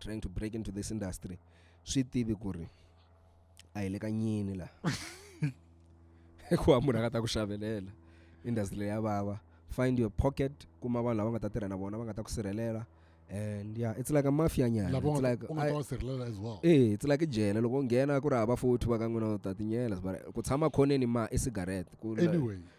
trying to break into this industry swi tivi ku ri a hi le ka nyini la hikuva munhu a nga ta ku xavelela industry leyi ya vava find your pocket kuma vanhu lava nga ta tirha na vona va nga ta ku sirhelela and yeah it's like a mafia nyana lava it's like u nga ta va sirhelela as well eh it's like jele loko nghena ku ri hava futhi va ka n'wina u ta tinyela ku tshama khoneni ma i cigarette ku anyway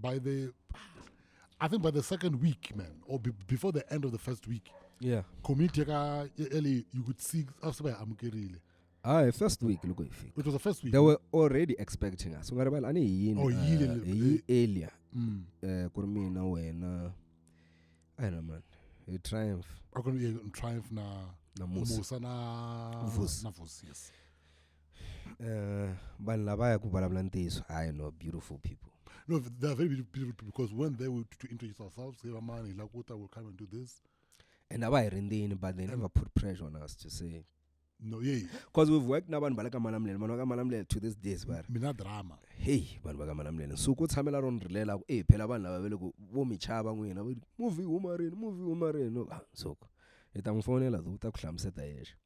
by the, I think by the second week, man, or be, before the end of the first week, yeah community ka early you could see us by amukerile ayi first week loko hi fika it was the first week they were already expecting us ungaribali ani hi yini oh, yile, uh, hi earlier mm. uh, ku ri mina wena i don't know man hi triumph akuni triumph na na musa na vusi na vusi yes Eh, vanhu lavaya ku vulavula ntiyiso hayi no beautiful people No, they are very beautiful people because when they were to, to introduce ourselves, hey, man, Hilakuta will come and do this. and a va hi rindzini but they never put pressure on us to say No, yeah, because we've worked na vanhu va le ka malamulele vanhu va ka malamulele to this days va ri mina drama. heyi vanhu va ka malamulele nsuku u tshamela ro ni rilela ku e phela vanhu lava va le ku vo mi chava n'wina va ri movie yi huma rini movie yi huma rini Ah, nsuku i ta n'wi fonela u ta ku hlamuseta yexe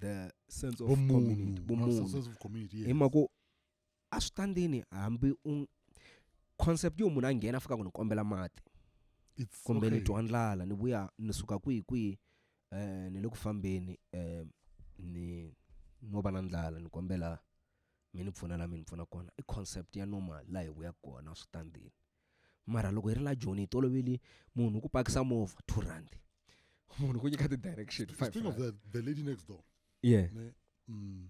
the sense of Vumunhu, community a vumunhu sense of community, yes. hi mhaka ku a swi ta ndini hambi u concept yo munhu a nghena a fika ku ni kombela mati It's kumbe ni okay. twa ndlala ni vuya ni suka kwihi kwihi um ni le ku fambeni um ni no va na ndlala ni kombela mi ni pfuna la mi ni pfuna kona i concept ya normal laha hi vuya kona a swi ta ndini mara loko hi ri la joni hi toloveli munhu ku pakisa movha two rand munhu ku nyika ti-direction speaking of that the lady next door yeah ne, mm,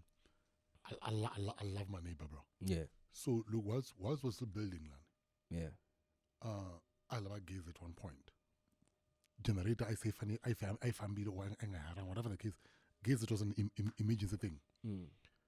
I, I, lo- I, lo- I love my neighbor bro yeah so look whilst, whilst we're still building lana yeah uh, a lava gezi at one point generator i say fani- I fam- I fambile or engahara whatever the case gezi it was an im- im- emergency thing mm.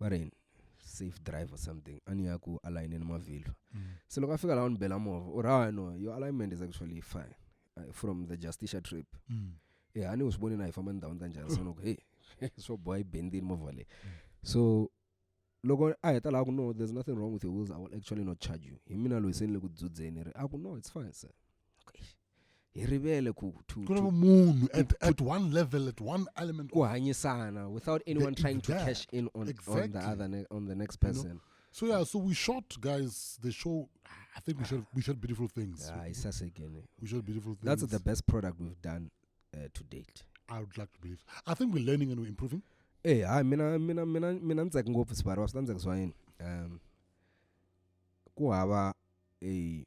bari safe drive or something ani ya ku alayineni mavhilwa mm. se loko a fika laha ni bela movha u ri hawa no your alignment is actually fine uh, from the justicia trip mm. e eh, hani u swi voni na hi famba ndhawini ta njhani sono ku hey swo boha yi bendini movha leyi mm. so loko a heta laha ku no there's nothing wrong with your wheels i will actually not charge you hi mina loyi se ni le ku dzudzeni ri a ku no it's fine sir hi rivele ku to, ku ri to munhu at, at one level at one element ku hanyisana without anyone The- trying to that. cash in on, on the Exactly. other ne- on the next you know? person so yeah so we shot guys the show i think we shot we shot beautiful things hayi sasekene we shot beautiful things Ah, that's the best product we've done uh, to date i would like to believe i think we're learning and we're improving Eh, hayi mina mina mina mina ni tsaka ngopfu sibari wa swi ta ni tsakisiwa yini um ku hava a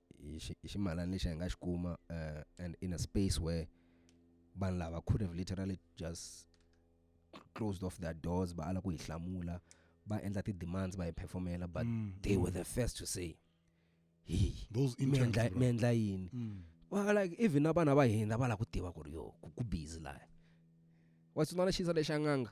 hi xi hi ximalana lexi hi nga xi kuma and in a space where vanhu lava could have literally just closed off their doors va ala ku hi hlamula va endla ti-demands va hi performela but mm. they were the first to say hi mi endla yini mm. like even na vana va hina va lava ku tiva ku ri yo ku busy laha wa swi vona xisa lexi a nganga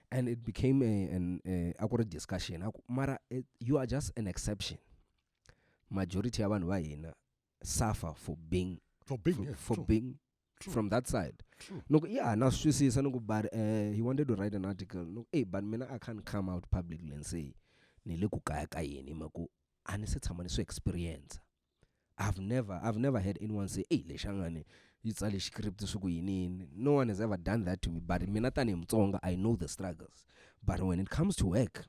and it became a, an a, a ku ri discussion aku mara it, you are just an exception majority ya vanhu va hina suffer for being for being, for, yeah, for true. being True. from that side loko yeah na swi twisisa ni ku but uh, he wanted to write an article no hey but mina i can't come out publicly and say ni le ku kaya ka yini hi mhaka a ni se tshama ni swi experience I've never I've never heard anyone say ey lexangane yi tsale script swi ku yini yini no one has ever done that to me but mina tanihi mutsonga i know the struggles but when it comes to work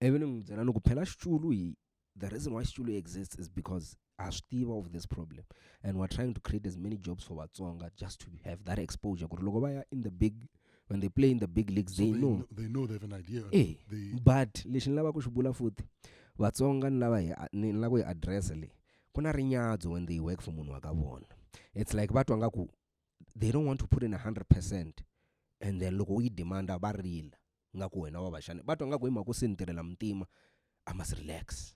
ivi ni n'wi byela ni ku phela xitulu hi the reason why xitulu exists is because ha swi tiva of this problem and we're trying to create as many jobs for vatsonga just to have that exposure ku ri loko va ya in the big when they play in the big leagues so they, they know kn- they know they have an idea eh they but lexi ni lava ku xi vula futhi vatsonga ni lava hi a- ni ni lava ku hi address le ku na rinyadzo when they work for munhu wa ka vona it's like va twa nga ku they don't want to put in 100 percent and then loko u yi demanda va rila nga ku wena wa va xana va twa nga ku hi mhaka u se ni tirhela mutima i must relax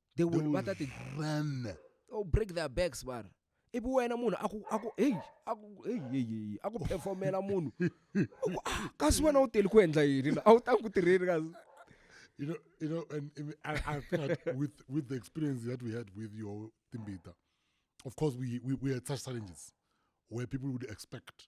they will va ta ti run oh break their backs vana ivi wena munhu aku aku hey aku hey hey hey aku performela munhu ah, kasi wena u teli ku endla yini a wu ta ku tirheni kasi you know you know and, and I, I think like with with the experience that we had with your timbita of course we we, we had such challenges where people would expect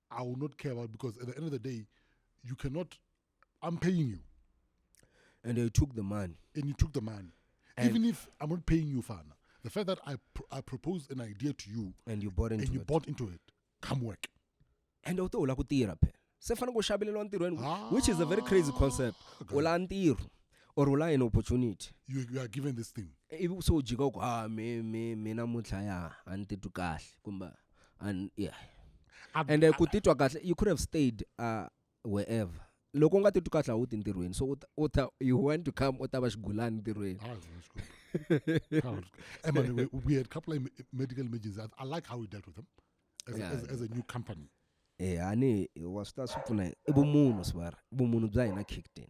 I will not care about because at the end of the day, you cannot. I'm paying you. And they took the money. And you took the money. And Even if I'm not paying you, Fana, the fact that I pr- I proposed an idea to you and you bought into and you it. bought into it, come work. And u to u la ku tirha phela se fanele ku xaveleriwa ntirhweni ah. which is a very crazy concept u la ntirho or u la an opportunity you, you are given this thing ivi so u jika u ku ha ah, mi mi mi namuntlha ya a ni titwi kahle kumbe and yeah Ab- ende ab- ku titwa kahle you could have stayed uh, wherever loko u nga titwi kahle a wu ti ntirhweni so u ta- u ta you want to come u ta va xigulani ntirhweni Ah, it's not good. Ah, it's good. Eh, man, we, we had a couple of em- medical emergencies. I, I like how we dealt with them as, Yeah. a, as, as a new company. E hani wa swi ta swi pfuna yini i vumunhu swear i vumunhu bya hina Captain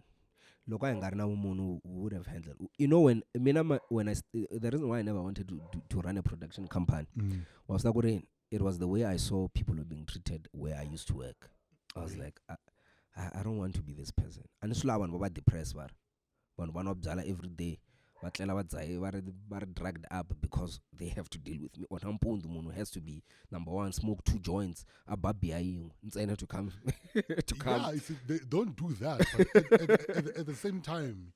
loko a hi nga ri na vumunhu we would have handled you know when mina ma when I the reason why I never wanted to to, to run a production company mm. was ku ri it was the way I saw people were being treated where I used to work I was like I, I, I don't want to be this person and swi lava vanhu va va depress var vanhu va nwa byala everyday va tlela va dzahe va ri va ri drugged up because they have to deal with me or nampundzu munhu has to be number one smoke two joints a ba biya yin'we ntsena to come to come yeah, see, they don't do that but at, at, at, at, the same time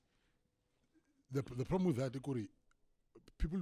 the, the problem with that ikuri people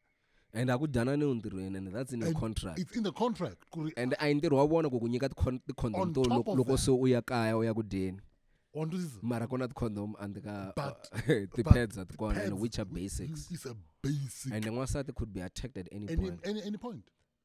and a ku dyanani entirhweni and that's in your contract it's in the contract and a hi ntirho wa vona ku ku nyika ti-condom to loko se u ya kaya u ya ku dyeni mara kona ti-condom and ka ti-pads a ti kona and which are basics and n'wansati could be attacked at any, any point, any, any point.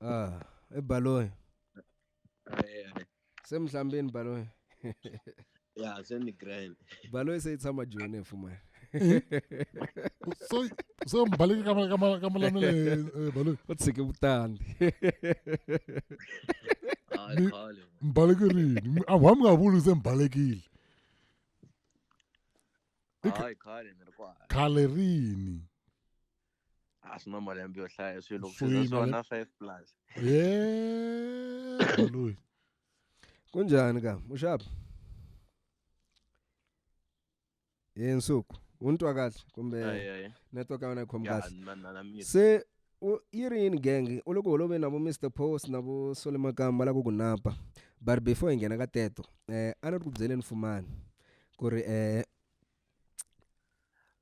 ah ebhaloyi se mi hlambini baloyi ya se ni grand baloyi se yi tshama joni hi fumana se mi baleke ka malamele eh, baloyi u tshike vutandi mi baleke rini a wa mi nga vuli se mi balekile khale rini a swi na malembe yo hlaya swilo swona five plus loyi kunjani ka muxapi hi nsuku u ni twa kahle kumbe network ya wena yi khomi kahle se yi ri yini genge u le ku holoveni na vo mr post na vo sole makamba la ku ku napa but before hi nghena ka teto um a ni ri ku byeleni fumani ku ri um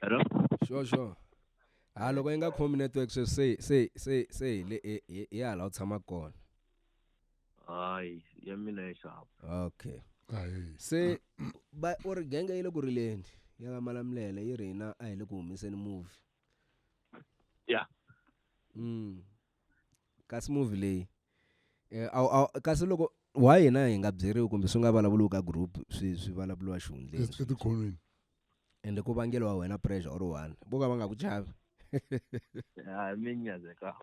hello sure sure ha loko yi nga khomi network sweswi se se se se hi le hi- hi hi hala u tshama kona hayi ya mina ya xava okay se ba u ri genge yi le ku rileni ya ka malamulele yi ri hina a hi le ku humeseni movie ya mm kasi movie leyi eh, aw, aw, kasi loko why hina hi nga byeriwi kumbe swi nga vulavuriwi ka group swi swi vulavuriwa xihundleni etikhonweni ende ku vangelo wa wena pressure or one vo ka va nga ku chavi hayi mi nyazeka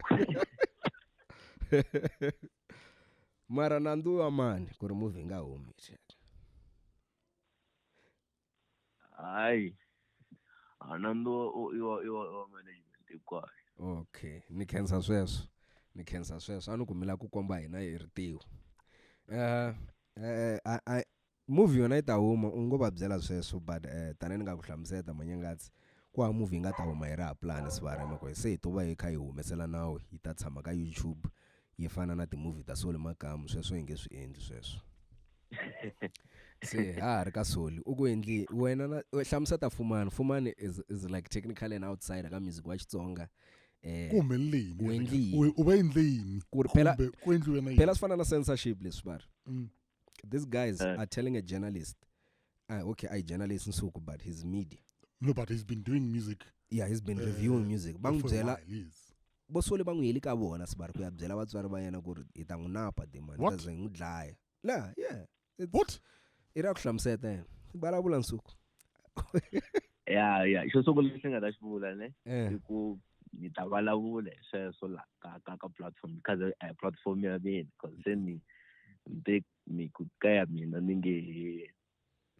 mara nandzu wa mani ku ri movie nga humi hayi a nandziwa i wa i wa i wa management hinkwayo okay ni khensa sweswo ni khensa sweswo a ni ku mi lava ku komba hina hi ritiho uh, uh, I, I, movie yona yi ta huma u ngo va byela sweswo but uh, tanihi ni nga ku hlamuseta manyangatsi ku hava movie yi nga ta huma yi ri ha pulani sivarema ku se hi to va hi kha hi humesela nawu yi ta tshama ka youtube yi fana na timovie ta soli makamu sweswo hi nge swi endli sweswo se ha ha ri ka soli u ku endli wena na hlamusa ta fumani fumani is, is like technical and outsider ka music wa xitsonga eh, u va endle yini phela swi fana na censorship leswi va ri mm. these guys uh, are telling a journalist uh, okay i journalist nsuku but his media no but he's been doing music yeah he's been uh, reviewing music bangibyela bosole va n'wi heli ka vona sibari ku ya byela vatswari va yena ku ri hi ta n'wi napa demani ta ze hi n'wi dlaya la yeah what i ra ku hlamuseta yena vulavula nsuku ya ya xo sungula lexi nga ta xi vula ne eh. i ku ni ta vulavula hi sweswo la ka ka ka platform ka eh, platform ya mina because se ni ni ni ku ka ya mina ni nge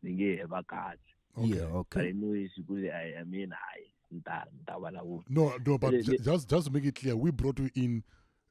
ni nge he va kahle yeah okay i know is good i i mean i ni ta ni ta vulavula no no but just just make it clear we brought you in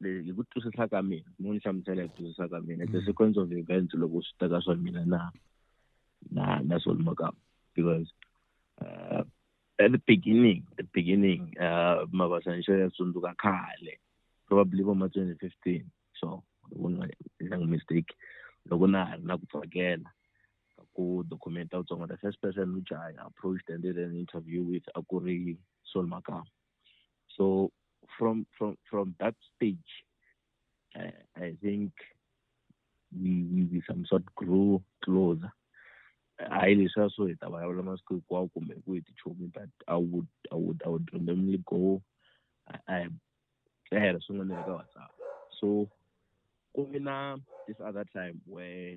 hi ku twisisa ka mina mo ni hlamusela hi ku twisisa ka mina the mm. sequence of events loko swi ta ka swa mina na na na Saul Makam because uh, at the beginning the beginning uh, Mabasa Nsho ya tsundzuka khale probably vo ma 2015 so ku nga ndanga mistake loko na ha ri na ku tsakela ku documenta vutsongo the first person which I approached and did an interview with a ku ri Saul Makam So from from from that stage, I, I think we, we, we some sort grew closer. hayi leswi a swo hi ta vulavula masiku hinkwawo kumbe ku hi tichomi but i would i would i would randomly go i i i had swin'wana ka whatsapp so ku vi na this other time where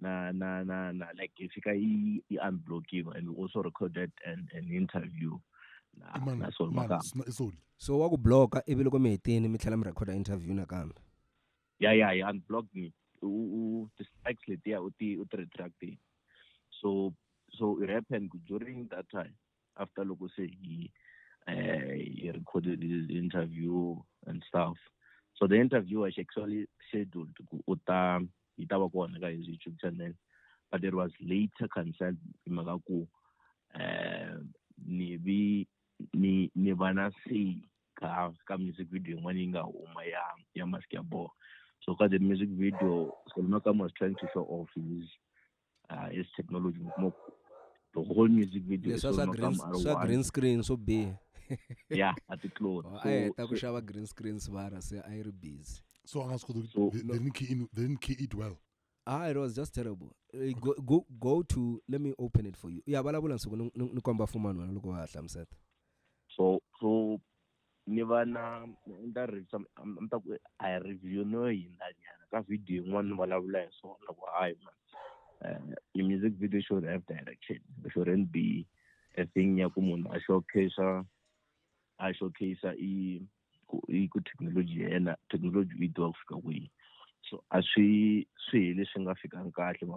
na na na na like if you can unblock you and we also recorded an, an interview na man, na Saul man, Saul. so wa ku blocka ivi loko mi hetini mi tlhela mi recorda interview nakambe ya ya ya unblocked me u distracts letiya u ti u ti retracting so so it happened during that time after loko se hi uh, he recorded his interview and stuff so the interview was actually scheduled ku u ta yi ta va kona ka his youtube channel but it was later cancelled hi mhaka ku um ni vi ni ni va na say ka ka music video yin'wana yi nga huma ya ya mask ya boha so ka the music video solomaka was trying to show off his ah is technology mo the whole music video leswa swa green swa green screen swo biha yeah at the clone oh, so, a heta ku xava green screen svara se a yi ri busy so a nga swi koti so, they, no. didn't key in, they didn't key it well ah it was just terrible uh, go, go, go to let me open it for you ya vulavula nsuku ni komba fumani wena loko wa ha hlamuseta so so ni va na ni ta revisa ni ta ku a hi review no hindza nyana ka video yin'wana ni vulavula hi swona ku hayi man um eh, music video should have direction it shouldn't be a thing ya ku munhu a showcase a showcase i ku i ku technology ya yena technology u yi tiva ku fika kwihi so a swi swi hi leswi nga fikanga kahle ma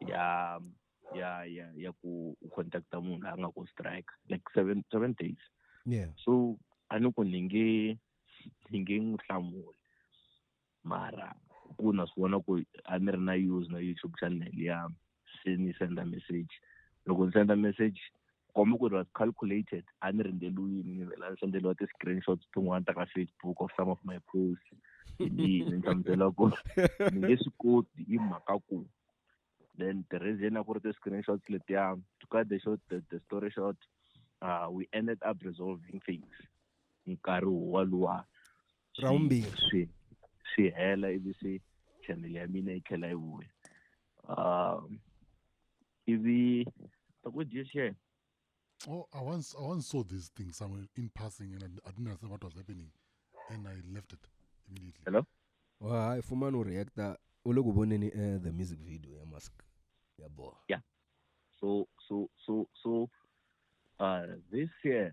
ya ya ya ya ku u contacta munhu la a nga ku strike like seven seven days yeah so a ni ku ni nge ni nge n'wi hlamuli mara ku na swi vona ku a ni ri na use na youtube channel ya se ni senda message loko ni senda message komba ku it was calculated a ni rindzelwini ni vela ni sendeliwa ti-screenshots tin'wana ta ka facebook of some of my posts ni hlamusela ku ni nge swi koti hi mhaka ku then the reason a ku ri ti-screenshots letiya to cut the short the, the story short uh, we ended up resolving things nkarhi woluwa ra vumbirhi swi swi hela ivi se channel ya mina yi tlhela yi vuya um ivi akudishe Oh, I once I once saw this thing somewhere in passing, and I, I didn't understand what was happening, and I left it immediately. Hello. Well, hi, Fumano reactor. Uloku boneni eh, the music video ya mask. Yeah, boy. Yeah. So so so so uh this year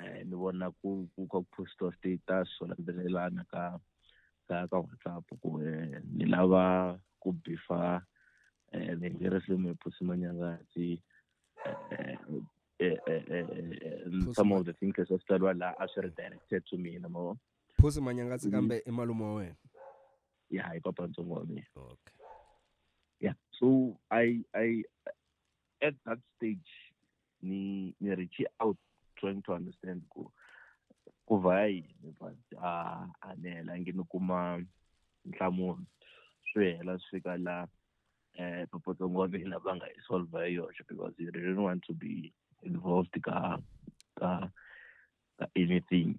eh, ni vona ku ku ka poster status swo landzelelana ka ka ka whatsapp ku eh, ni lava ku bifa eh, ni nge risimu hi phusi manyangatsi eh, eh, eh, eh, eh, Phusi some Ma- of the things leswi a swi tsariwa laha a swi ri directed to mina mo phusi manyangatsi kambe i malume wa wena ya hi papa ntsongo wa mina okay yeah so i i at that stage ni ni reach out trying to understand ku ku va yini but a a ni helangi ni kuma nhlamulo swi hela swi fika la eh popotong wa mina va nga yi solve hi yoxe because you didn't want to be involved ka ka ka anything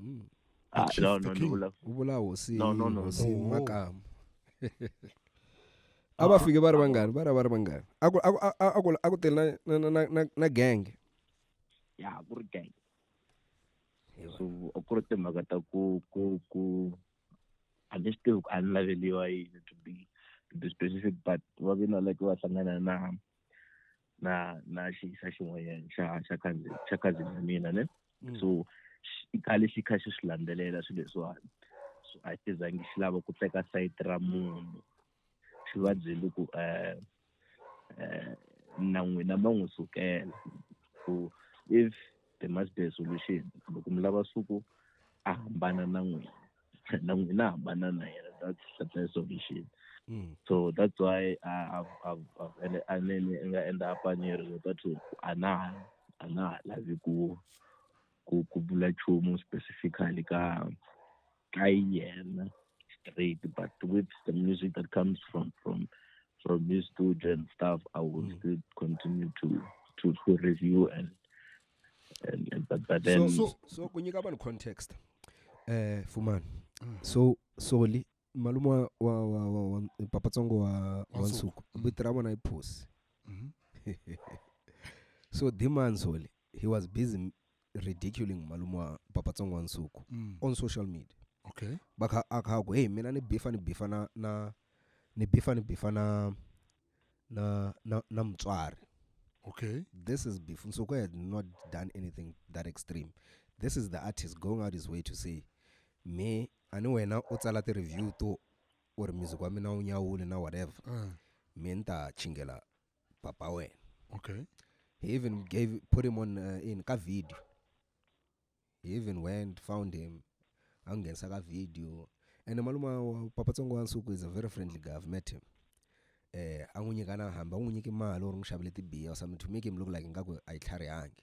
Mm. Ah, Chief no, the no, king. ndivula- u vula hosi No, no, no. hosi Oh. makamu a va fike va ri vangani va ri va ri vangani a ku a ku- a- a- a ku- a ku tele na- na- na- na- na- na gang ya ku ri gang so a ku ri timhaka ta ku ku ku a ni swi tivi ku a ni laveliwa yini to be to be specific but va vina like va hlangana na na na xi xa xin'wanyana xa xa cousin xa cousin ya mina ne mm. so i khale xi kha xi swi landzelela swilo leswiwani so a xi zangi xi lava ku teka sayiti ra munhu xi va byeli ku um um na n'wina ma n'wi sukela ku if the much be solution loko mi lava suku a hambana na n'wina na n'wina a hambana na yena that's the best solution mm. so that's why ene a ne ni nga endla apanyeri lota to a na a na lavi ku ku ku bula chumu specifically ka ka yena straight but with the music that comes from from from his studio and stuff i will mm. still continue to to to review and and, and but, but then so so, so kunyika vanhu context eh fumani mm. so soli malume wa wa wa, wa, wa papa tsongo wa wa nsuku mm. vito ra vona i phosi mm-hmm. so dimani soli he was busy ridiculing malume wa papa tsongo wa nsuku Mm. on social media okay va kha a kha a ku hey mina ni bifa ni bifa na na ni bifa ni bifa na na na, na mutswari okay this is before Nsuku had not done anything that extreme. This is the artist going out his way to say, me ani wena u tsala ti-review to or music wa mina wu nyawule na whatever uh, me ni ta chingela papa wena okay he even gave put him on uh, in ka video he even went found him angenisa ka video and malume wa papa tsongo wa nsuku is a very friendly guy i've met him eh a n'wi nyika na hamba u n'wi nyiki mali u ri n'wi xavele tibiya or something to make him look like ingaku a yi tlharihangi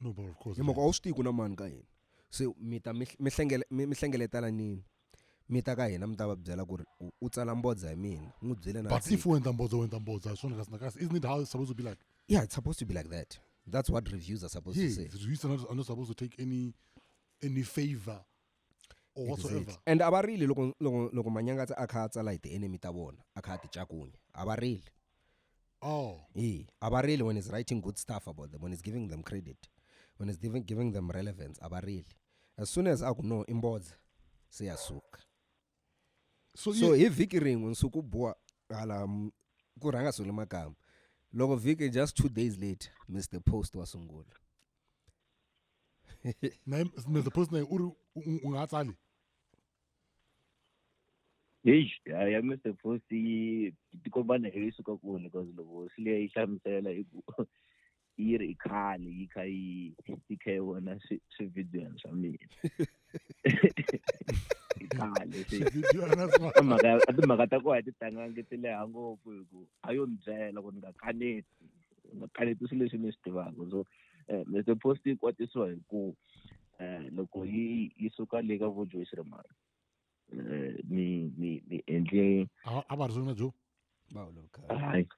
no but of course hi mhaka a wu swi tivi ku na mani ka hina se mi ta mi mi hlengele- mi- mi hlengeletana nini mi ta ka hina mi ta va byela ku ri u- u tsala mbodza hi mina n'wi byele na but if u endla mbodza u endla mbodza hi swona kasi na kasi isn't it how it's supposed to be like yeah it's supposed to be like that that's what reviews are supposed yeah to say the reviews are not, are not supposed to take any any favor or whatsoever Exactly. and a va rili loko loko loko manyangatsa a kha a tsala hi ti-enemy ta vona a kha a ti cakunya a va rili oh e a va rili when he's writing good stuff about them when he's giving them credit when he's giving, giving them relevance a va rili as soon as a ku no i mbodza se ya suka so, so yeah, hi vhiki rin'we nsuku boha hala m- ku rhanga sungule makamba loko vhiki just two days later mr post wa sungula naye mr post naye uri u- ungatsali Eish, ya ya Mr. Post yi tikombana hi suka kuni because loko swi leyi hlamusela i ku yi ri i khale yi kha yi yi kha yi vona swi- swividiyoni swa mina i khale se Swividiyona swa- a mhaka ya- a timhaka ta kona a ti tangangi ti leha ngopfu hi ku a yo ni byela ku ni nga kaneti makhaleti swilo leswi mi swi tivaka so um eh, the post yi kwatisiwa hi ku um loko yi yi suka le ka vojoyi siremani um eh, ni ni ni endle a va ri swona byo hayi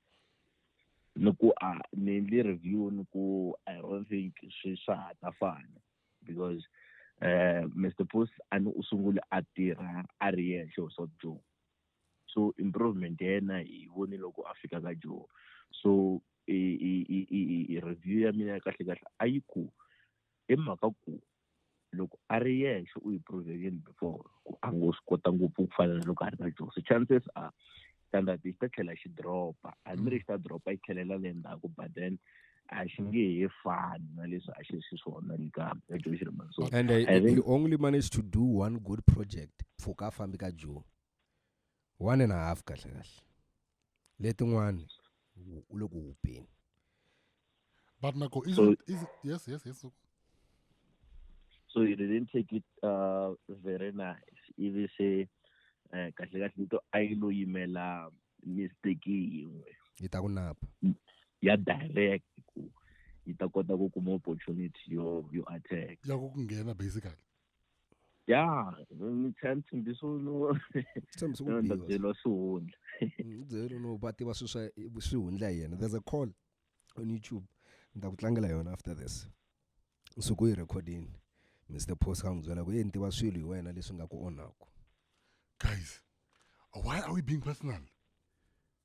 ni ku a ni endle review ni ku i don't think swi swa ha ta fana because um mr post a ni u sungule a tirha a ri yexe u swa byo so improvement ya yena hi voni loko a fika ka joho so review ya mina ya kahle kahle a yi ku i mhaka ku loko a ri yexe u yi provekini before ku a ngo swi kota ngopfu ku fana na loko a ri na joho so chances are standard xi ta tlhela xi dropa a ni ri xi ta dropa yi tlhelela le ndzhaku but then a xi nge he fani na leswi a xi ri xiswona le ka joe xirimansoni and uh, he only managed to do one good project for ka fambi ka joe one and a half kahle kahle letin'wani u le ku hupeni but nako is, so, is, yes yes yes so you didn't take it uh, very nice ivi se eh, kahle kahle nto a yi lo yimela mistake yin'we yi ta ku napa mm, ya direct ku yi ta kota ku kuma opportunity yo yo attack ya ku nghena basically ya ni tlhela ni tshembisa no tshembisa ku biwa byeriwa swihundla mm, byeriwa no va tiva swi swa swihundla hi yena there's a call on youtube ni ta ku tlangela yona after this nsuku yi recordini mr post ka n'wi byela ku ye ni tiva swilo hi wena leswi nga ku onhaku guys why are we being personal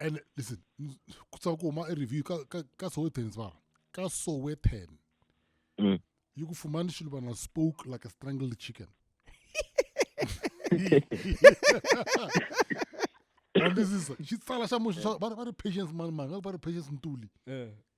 and listen ku tsaka ku huma review ka ka ka Sowetan va ka Sowetan mm. yi ku fumani xilo vana spoke like a strangled chicken andisisa xitsala xa munhu va ri patience mani manga va ri patience ntuli eh.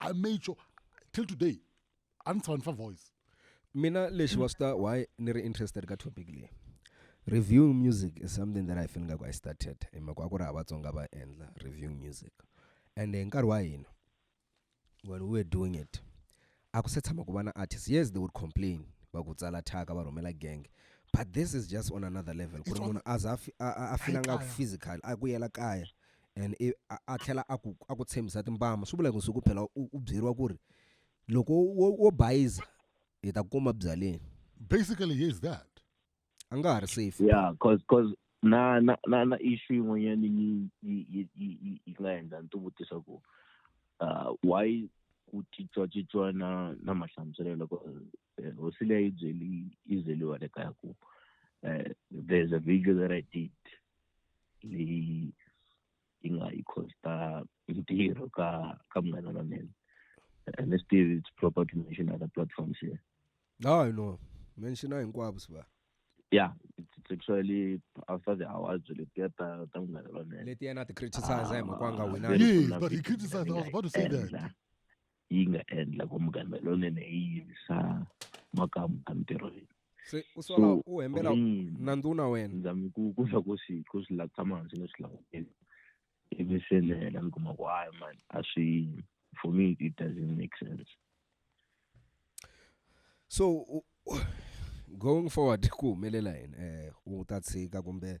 i made sure till today a ni tshava ni fa voice mina lexi wa swi ta why ni ri interested ka topic leyi reviewing music is something that i feel ngaku i started hi mhaka wa ku ri ha vatsonga va endla reviewing music and hi nkarhi wa hina when we were doing it a ku se tshama ku va na artist yes they would complain va ku tsala thyaka va rhumela gang but this is just on another level ku ri munhu a za a fila ngaku physical a ku yela kaya and i a a tlhela a ku a ku tshembisa timbama swi vula ku siku phela u u byeriwa ku ri loko wo wo bayiza hi ta kuma byaleni Basically, he is that. a nga ha ri safe yeah cause cause na na na na issue yin'wanyana yi yi yi yi yi- yi nga endla ni ti vutisa ku uh, why ku titwatsitswana na mahlamuselelo ku eh, hosi leyi yi byeli yi byeliwa le kaya ku um there's a video that i did leyi yi nga yi costa ntirho ka ka munghana wa mina and let's still it's proper to mention other platforms here no i know mention hinkwavo swa yeah it's actually after the hours letiya ta ta munghana wa mina letiya na ti criticize hi mhaka nga wina yes but he criticized i was about to say that yi nga endla ku muganga lonene yi yivisa makamu a mintirhweni se u sola u hembela na nduna wena ndza mi ku ku swa ku swi ku swi latsa manzi ni swi langutela ivi se ni hela ni kuma ku hayi mani a swi for me it doesn't make sense so going forward ku humelela yini eh u ta tshika kumbe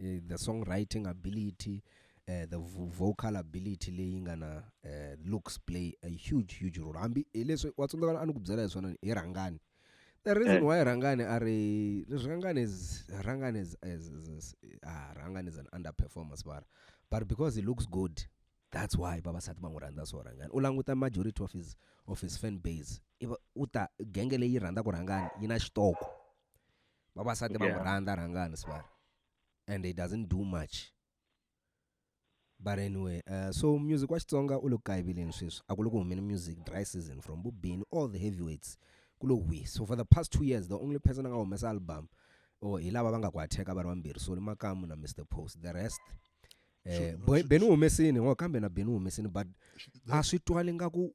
eh, the songwriting ability eh, the vo- vocal ability leyi nga na eh, looks play a huge huge role hambi hileswi wa tsundzuka a ni ku byela hi swona ni, hi rhangani the reason Eh. why rhangani a ri rhangani is rhangani is, is, is, is ah, rhangani is an underperformance bara but because he looks good that's why vavasati va n'wi rhandza so rhangani u languta majority of his of his fan base i va- u ta genge leyi rhandzaka rhangani yi na xitoko vavasati va n'wi Yeah. rhandza rhangani sibari and he doesn't do much but anyway uh, so music wa xitsonga u le ku kayiveleni sweswi a ku le ku humeni music dry season from bubini all the heavyweights ku lo hwi so for the past two years the only person a nga humesa album or hi lava va nga ku atheka va ri vambirhi soli makamu na mr post the rest Sure, eh, no, Boy- sure, beni u humesini ngo kambe na beni u humesini but a swi twali nga ku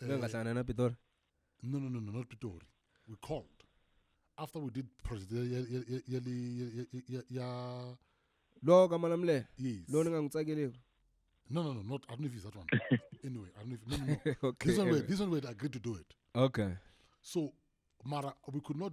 Eh, Ngangahlangana na Pitori. No no no no not Pitori. We called. After we did project ya ya ya ya ya- ya- ya- ya Lo ka Malamulele. yes. Lo ni nga n'wi tsakeleki. No no no not I don't know if it's that one. anyway, I don't know if no no no. This one we Okay. this one we had agreed to do it. Okay. So Mara we could not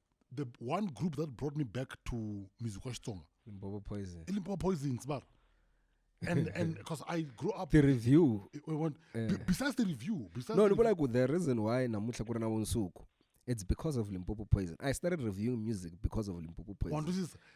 the one group that brought me back to music wa xitsonga limpopo poison i limpopo poisons bar and and because i grew up the review it went- be- besides the review besides no the ni vula ku the reason why namuntlha ku ri na vunsuku it's because of limpopo poison i started reviewing music because of limpopo poison Wandusisa,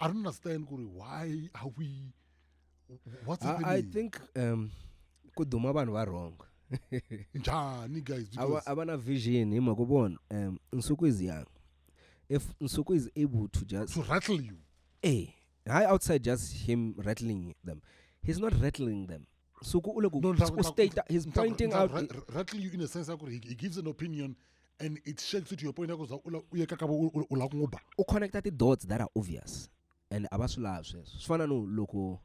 i don't understand kuri why are we what's happening i, I think um ku duma vanhu va wrong njhani guys because a va na vision hi mhaka vona um nsuku is young if nsuku is able to just to rattle you eh hayi outside just him rattling them he's not rattling them suku u le ku u state he's pointing out rightly you in a sense akuri he gives an opinion and it shakes to your point ya ku za u yeka ka u la ku nguba u connecta ti dots that are obvious and a va swi lavi sweswo swi fana no loko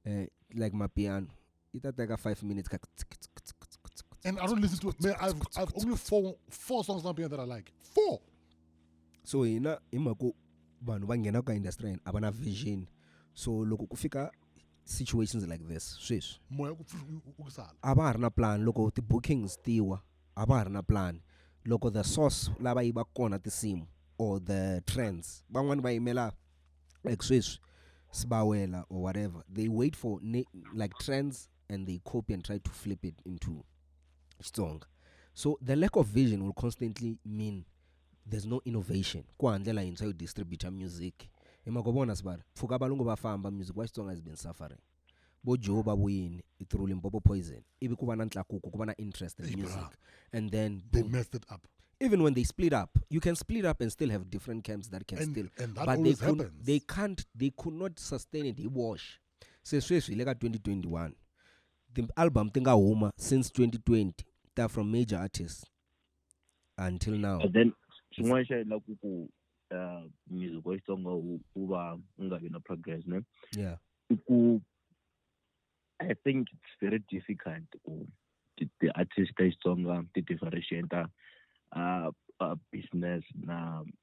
eh like mapiano yi ta teka 5 minutes ka and I don't listen to it. Man, I've, I've only four, four songs on piano that I like. Four! So, hina, imako, vanhu va nghena ka industry a va na vision so loko ku fika situations like this sweswi moya ku pfu- u- u ku sala a va ha ri na plan loko ti-bookings tiwa a va ha ri na plan loko the source lava yi va kona tinsimu or the trends van'wani va yimela like sweswi sibawela or whatever they wait for ne- like trends and they copy and try to flip it into xitsonga so the lack of vision will constantly mean There's no innovation ku hava ndlela yintshwa yo distributer music hi mhaka vona sibala pfuka valungu va famba music wa Xitsonga has been suffering vo Joe va vuyini i through Limpopo poison ivi ku va na ntlakuko ku va na interest in Hey, music brah. and then They boom. messed it up. even when they split up you can split up and still have different camps that can And- still and that but they, always could, happens. they can't they could not sustain it hi wash se sweswi hi le ka 2021 ti-album ti nga huma since 2020 ta from major artists until now but then xin'wana xa yila ku ku uh, music wa xitsonga wu va u nga vi na progress ne yeah i ku i think it's very difficult ku ti-artist ta xitsonga ti-differentiata uh, uh, business na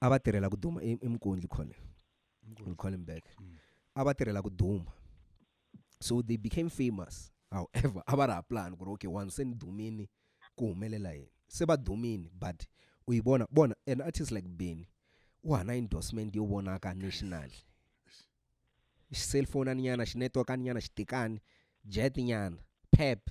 a va tirhela ku duma i i mukundli khole we call him back a va tirhela ku duma so they became famous however a va ri ha plan ku ri okay one se ni dumini ku humelela yini se va dumini but u yi vona bona an artist like beni u hana endorsement yo vonaka national xi cellphone nyana xi network nyana xi tikani jet nyana pep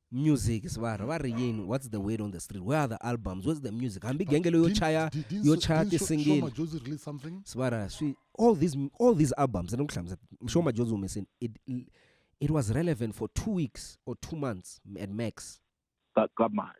music si va va ri yini what's the word on the street where are the albums where's the music hambi genge leyo chaya yo chaya tisingile si va ra swi all these all these albums ni ku hlamusa msho majozi humesini it it was relevant for two weeks or two months at max ka ka mali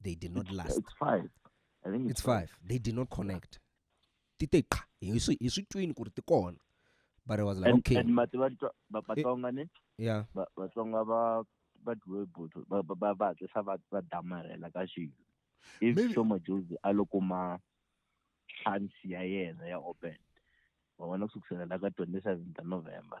they did not last it's five i think it's, it's five. five they did not connect ti te qha hi swi hi swi twini ku ri ti kona but i was like and, okay and mati va va vatsonga ni yeah va vatsonga va va dwe buthu va va va tlisa va va damarela ka xilo if so majuzi a loko ma chance ya yena ya open wa vona ku sukusela la ka 27 ta november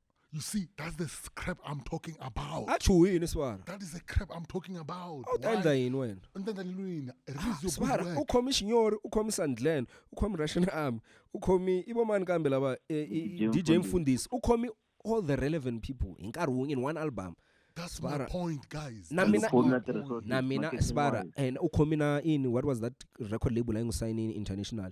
You see, that's the s- crap I'm talking about. a chuhi yini swara That is the crap I'm talking about. a wu ta Why? endla yini wena U ta endla yini lwini? Release your good swara u work. khomi xinyori u khomi sandlen u khomi russian army u khomi i vomani kambe lava eh, i- i- DJ dj mfundisi u khomi all the relevant people hi nkarhi wun'we in one album That's my Swara. point, guys. Na That's mina- my Khona point. tirhiso- na mina Marketing sibara wise. and u khomi na ini what was that record label a yi n'wi sayinini international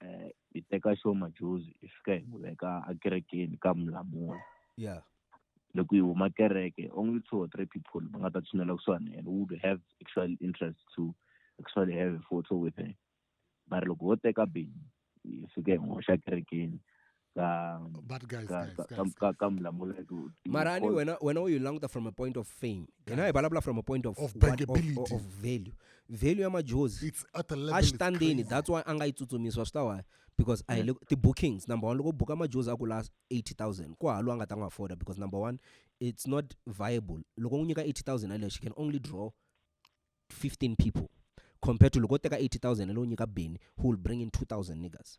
eh hi teka xo majuzi hi fika hi n'wi veka ekerekeni ka mulamula yeah loko yi huma kereke only two or three people va nga ta tshinela kusuhani and would have actual interest to actually have a photo with her mara loko ho teka bini hi fike hi n'wi hoxa kerekeni ka but guys ka guys ka ka- guys ka ka mulamula hi ku- hi mara ani call- wena wena u yi languta from a point of fame hina hi vulavula from a point of Of what- bankability. of, of value value ya majozi it's at a level a it's xi tandzeni crazy. that's why a nga yi tsutsumisiwa swi ta why because a hi le ti-bookings number one loko u buka majozi a ku la 80000 ku halo a nga ta n'wi afforda because number one it's not viable loko n'wi nyika 80000 yaleyo she can only draw 15 people compared to loko u teka 80000 yaleyo u nyika beni who will bring in 2000 niggas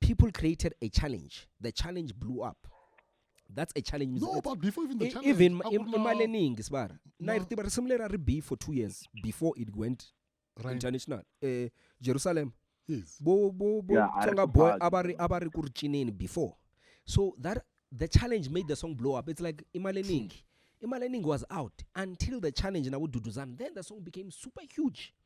people created a challenge the challenge blew up that's a challenge no but before even the challenge even imali eningi sibara na ritiba risimu leri a ri be for two years before it went right. international eh jerusalem yes. bo bo bo yeah, tsonga boy a va ri a va ri ku ri cineni before so that the challenge made the song blow up it's like imali eningi imali eningi was out until the challenge na vududuzani then the song became super huge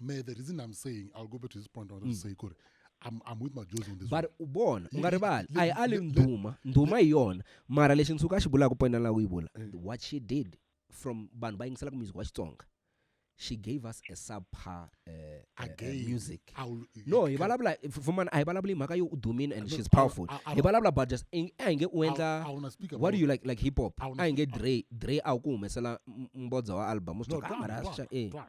me the reason i'm saying i'll go back to this point i want to say kuri I'm, I'm with my Joes on this one. but u vona u nga rivali a hi ali ndhuma ndhuma hi yona mara lexi nsuka a xi vulaka point laha u yi vula what she did from vanhu va yingiselaka music wa xitsonga she gave us a subpar uh, uh, uh, Again, music I will- no hi vulavula fumana a hi vulavuli hi mhaka yo u dumile and No, she's I- powerful I- I- hi vulavula about just in- a hi nge u I- I endla wanna speak what do about- you like like hip hop I wanna a hi nge speak- dre dre a wu ku humesela m- mbodza wa album u swi No, twa, "Ah, Twan, mara Twan, sha- eh." Twan.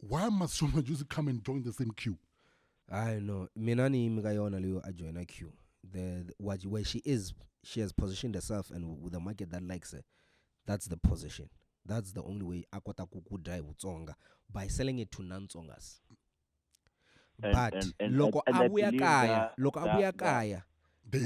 why must shoma juicy come and join the same queue hayi no mina niyimi ka yona leyo ajoyina q the, the what, where she is she has positioned herself and with the market that likes her that's the position that's the only way a kota ku ku dya hi vutsonga by selling it to non-tsongas but loko a vuya kaya loko a vuya kaya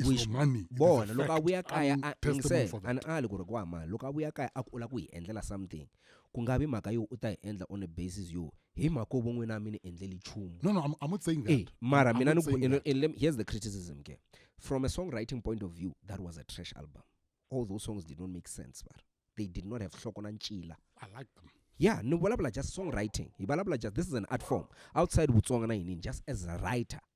wish bona loko a vuya kaya a se a ni ali ku ri ku wa mali loko a vuya kaya a ku u lava ku hi endlela something ku nga vi mhaka yo u ta hi endla on a basis yo hi mhaka vo n'wina a mi ni endleli nchumu no no I'm, I'm not saying that hey, mara mina ni ku here's the criticism ke from a songwriting point of view that was a trash album all those songs did not make sense but they did not have hloko na ncila I like them yeah ni vulavula just songwriting hi vulavula just this is an art form outside vutsonga na yinini just as a writer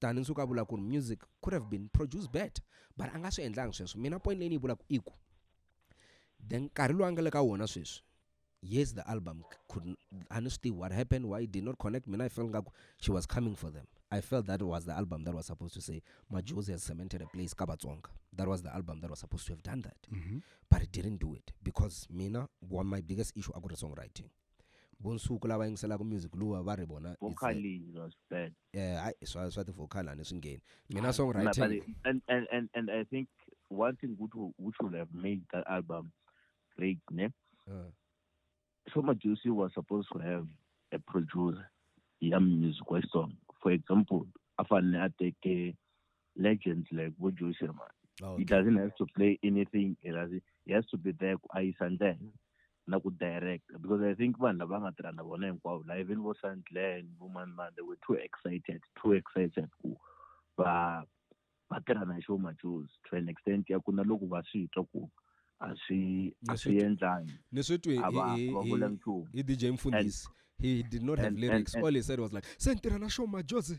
than ni suka vula ku ri music could have been produced better but a nga swi endlangi sweswo mina point leyi ni yi vulaka i ku the nkarhi lowu a nga le ka wona sweswi yes the album could a ni swi tivi what happened why did not connect mina i felt ngaku she was coming for them i felt that was the album that was supposed to say majosi has cemented a place ka vatsonga that was the album that was supposed to have done that mm -hmm. but it didn't do it because mina one my biggest issue akuri songwriting vo nsuku lava yingiselaka music luwa va ri vona vocal is was bad eh hayi swa swa ti vocal ani swi ngheni mina songwriting and and and and i think one thing which which would have made that album great ne uh. so Majusi was supposed to have a producer ya music wa song for example afanele ateke legends like vo Joe Sherman. Oh, okay. He doesn't have to play anything. He has, he has to be there ku ayisa ndlela na ku direct because I think vanhu lava nga tirha na vona hinkwavo la even vo Sandland vo mani mani they were too excited too excited ku va va tirha na Sho Majozi to an extent ya ku na loko va swi twa ku a swi a swi endlangi ni swi twi a va a va vula nchumu hi DJ Mfundisi he did not have and, lyrics and, and, all he said was like se ni tirha na Sho Majozi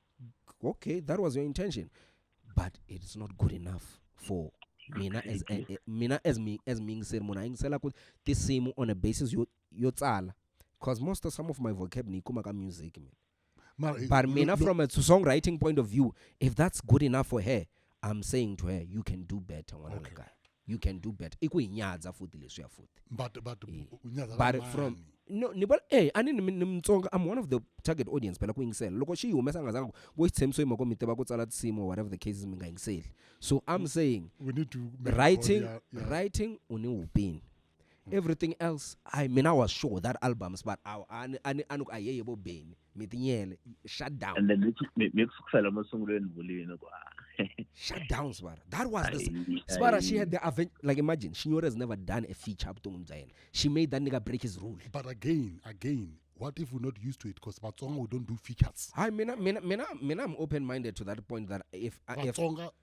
okay that was your intention but it's not good enough for mina as eh, eh, mina as me as me ngiseri munhu ayingisela ku tinsimu on a basis yo yo tsala because most of some of my vocab ni kuma ka music mina Mara, eh, but look- mina look- from a songwriting point of view if that's good enough for her i'm saying to her you can do better ngwana Okay. okay. guy you can do better i ku hi nyadza futhi leswiya futhi but but eh, u nyadza but from no ni vona eh ani ni ni mtsonga i'm one of the target audience phela ku yingisela loko xi yi humesa nga zanga ku xitshemiso yima ko mi tiva ku tsala tinsimu or whatever the cases mi nga yingiseli so i'm saying we need to writing yeah, yeah. writing u ni upini everything else I mean I was sure that albums but I ani ani ani ku ayeye bo beni mi tinyele shut down and then mi kusukisela emasungulweni vulini ku shut down sibara that was the sibara she had the event like imagine shinyore has never done a feature ebuton'wini bya yena she made that nigga break his rule but again again what if we're not used to it because Batsonga we don't do features hayi mina mina mina mina i'm open minded to that point that if uh, if,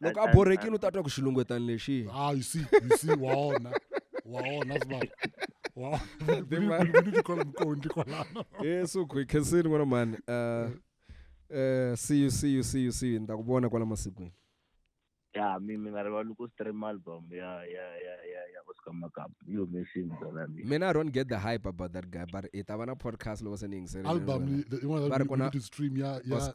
loko a borhekile u ta twa ku xilungwetani lexi ah you see you see wa ona wa ona sibaba wa yesu ku khensini n'wana mani uh, uh, see you see you see you see you ni ta ku vona kwala masikwini ya mi mi nga rivali ku stream album ya ya ya ya ya Oscar Makap you missing zona mi mina I don't get the hype about that guy but it avana podcast loko se ni yingisela album yin'wana to stream ya ya